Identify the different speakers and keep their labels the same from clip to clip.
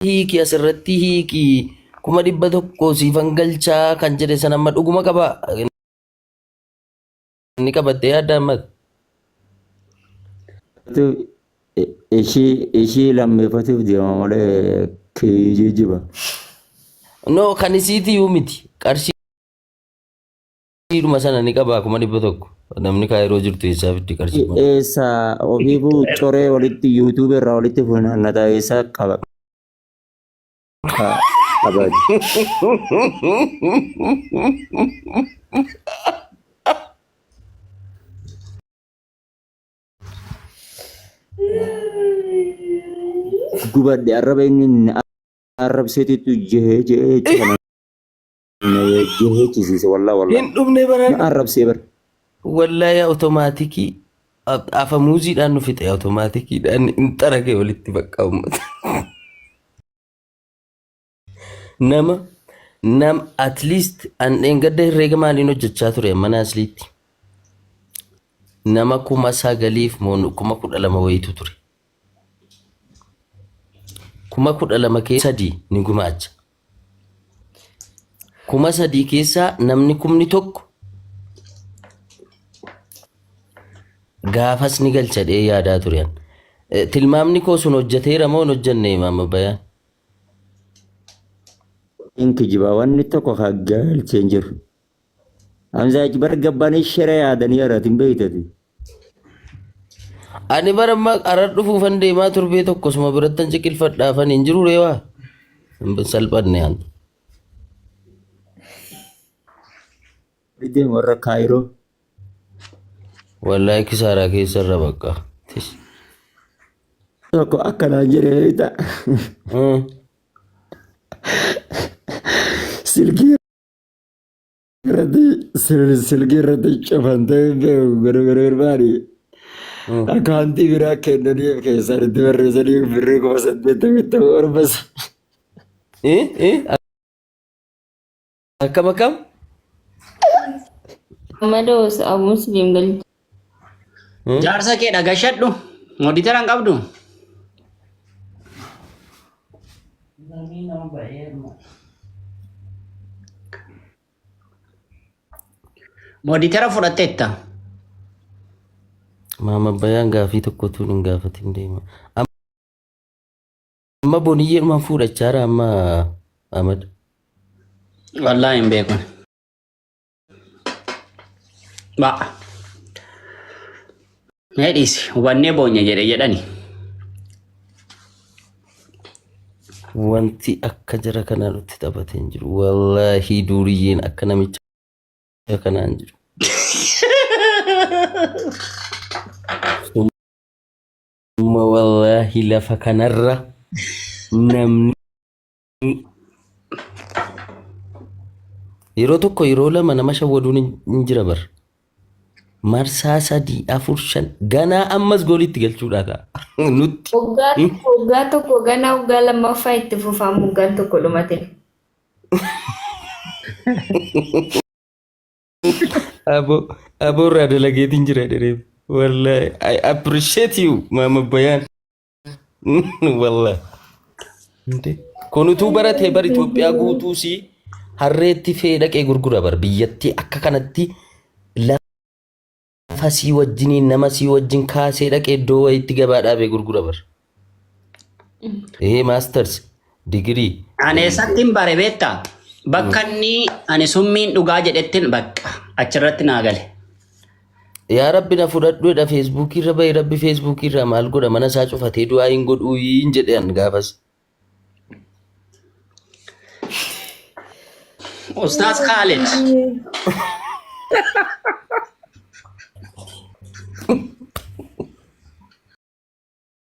Speaker 1: hiiki asirratti hiiki kuma dhibba tokko siifan galchaa kan jedhe san amma dhuguma qaba ni qabatte yaadda amma ishii ishii
Speaker 2: lammeeffatuuf deema malee kiyyuu jiba.
Speaker 1: no kan isiiti yuu miti qarshii Siidhuma sana ni qabaa kuma dhibba tokko. Namni kaayiroo jirtu eessaa fitti qarshii kuma. Eessa
Speaker 2: ofiifuu coree walitti yuutuubii irraa walitti funaannataa eessa qaba. Qabaati. Gubadhe arraba inni arrabseetitu jehee jehee jechuudha. Yoo heechisiise wallaa wallaa. Hin dhumne baraan. Na
Speaker 1: arrabsee bar.
Speaker 2: Wallaahi
Speaker 1: automaatikii afa muuziidhaan nu fixe automaatikidhaan hin xarage walitti bakka uummata. Nama nam at least an dheengadda herreega maaliin hojjechaa ture mana asliitti. Nama kuma sagaliif moo kuma kudha lama wayitu ture. Kuma kudha lama kee sadii ni gumaacha. Kuma sadii keessaa namni kumni tokko gaafas ni galcha jedhee yaadaa ture. an. Eh, Tilmaamni koo sun hojjeteera moo hin hojjenne maama bayaan?
Speaker 2: Hin kijiba. Wanni tokko haa galchee hin jiru. Hamzaa achi bara gabbaanii shira yaadanii haratin beektati.
Speaker 1: Ani bara amma arar dhufuufan deemaa torbee tokko suma birattan ciqilfadhaafan hin jiru reewaa. Hin salphanne an.
Speaker 2: Deema warra kaayiroo.
Speaker 1: Wallaahi kisaaraa keessa irra bakka. Tis.
Speaker 2: Tokko akkanaa jedhee beekta. Mm. Silkii irratti sil- silkii irratti cufantee barbaadu akkaawuntii biraa kennaniif keessaan itti barreessanii birrii kuma saddeettamii tokko orbas Eh, eh,
Speaker 1: akkam akkam
Speaker 3: Maloo Musliim galchee.
Speaker 4: Jaarsa kee dhagashadhu. Moditera hin qabdu. Moditera fudhatteetta.
Speaker 1: Maama bayaan gaafii tokkotu hin gaafatin deema. Amma boniyyee dhumaan fuudhachaara amma Ahmad.
Speaker 4: Wallaahi hin beekun. Ba'a. Mee dhiisi hubannee boonya jedhe jedhani.
Speaker 1: Wanti akka jara kanaa nutti taphate hin jiru. Wallaahi duuriyyeen akka namicha jara kanaa hin jiru. Summa wallaahi lafa kanarra namni yeroo tokko yeroo lama nama shawwaduun hin hin jira bar marsaa sadii afur shan ganaa ammas gooliitti galchuudhaa ka'a nutti Waggaa tokko waggaa
Speaker 3: tokko ganaa waggaa lammaffaa itti fufaa moggaan tokko dhumate.
Speaker 1: abo abo irraa dalageetiin jira dhereef wallahi I appreciate you maama bayaan Wallahi. Kun utuu baratee bar Itoophiyaa guutuu si harreetti fe'ee dhaqee gurgura bar biyyatti akka kanatti lafa sii wajjinii nama sii wajjin kaasee dhaqee iddoo wayiitti gabaa dhaabee gurgura bar. Ee maasters Digirii. Ani eessattiin
Speaker 4: bare beektaa? Bakka inni ani summiin dhugaa jedhettiin bakka achirratti naa gale.
Speaker 1: Yaa rabbi na fudhadhu jedha feesbuukii irra bahe rabbi feesbuukii irraa maal godha mana isaa cufatee du'aa hin godhuu hin jedhe an gaafas.
Speaker 4: Ustaaz Kaalid.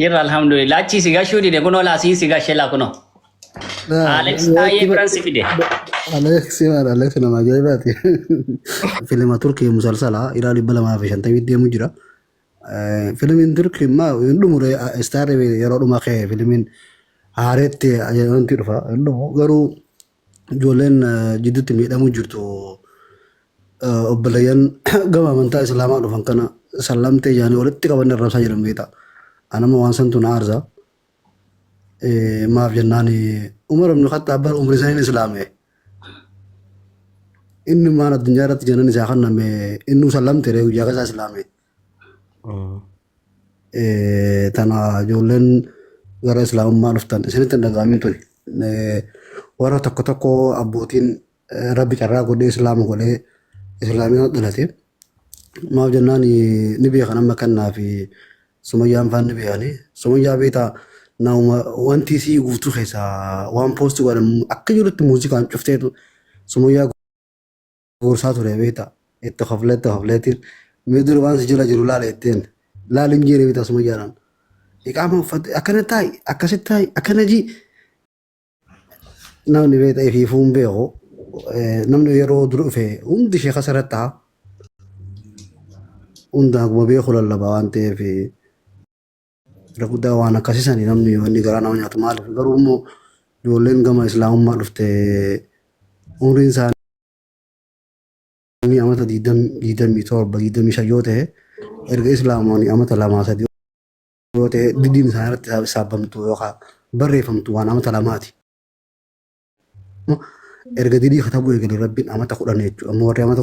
Speaker 4: Jirra alhamdulillah. Achii si gashuu dide kunoo laasiin si gashe laa kunoo. Alex taayee biran si fide. Aleeksi waan
Speaker 5: Aleeksi nama ajaa'ibaati. Filima Turkii musalsala dhiiraa dhibba lamaa fi shantamii deemu jira. Eh, Filimiin Turkii immaa hin dhumure istaarri yeroo dhuma ka'e filimiin haareetti ajaa'ibanti dhufa hin dhumu garuu ijoolleen jidduutti miidhamuu jirtu obboleeyyan gama amantaa islaamaa dhufan kana sallamtee yaanii walitti qabanne arrabsaa jiran beekta. Anama waan santu na aarsa. Maaf jennaan Umar ibn Khattaab bara umrii saniin islaame. Inni maan addunyaa irratti janan isaa kanname innuu sallamte ree guyyaa kasaa islaame. Tana ijoolleen gara islaamummaa dhuftan isinitti hin dhaga'amin tuni. Warra tokko tokko abbootiin rabbi carraa godhee islaama godhee islaamina dhalate. Maaf jennaan ni beekan amma kannaa fi sumayyaan faan ni beekani. Sumayyaa beektaa nauma wanti isii guutuu keessaa waan poosti godhan akka jirutti muuziqaan cufteetu sumayyaa Gorsaa ture beektaa. Itti koflee itti kofleetiin. Mee dura waan si jala jiru laala jetteen. Laali hin jeene beektaa suma jaalan. Iqaama uffatte akkana taa'i akkasitti taa'i akkana jii. Namni beektaa ifiifuu hin beeku. Namni yeroo dura dhufe hundi ishee kasarratti ta'a. Hundaan akkuma beeku lallaba waan ta'eef. Irra guddaa waan akkasisani namni wanni garaa nama nyaatu maaliif garuu immoo ijoolleen gama islaamummaa dhufte umriin isaanii amata 27 25 yoo ta'e erga islaamoonni amata lamaa sadii yoo ta'e didiin isaanii irratti isaa- saabamtu yookaan barreeffamtu waan amata lamaati. Erga didii katabuu eegale rabbiin amata kudhan jechuudha. Ammoo warri amata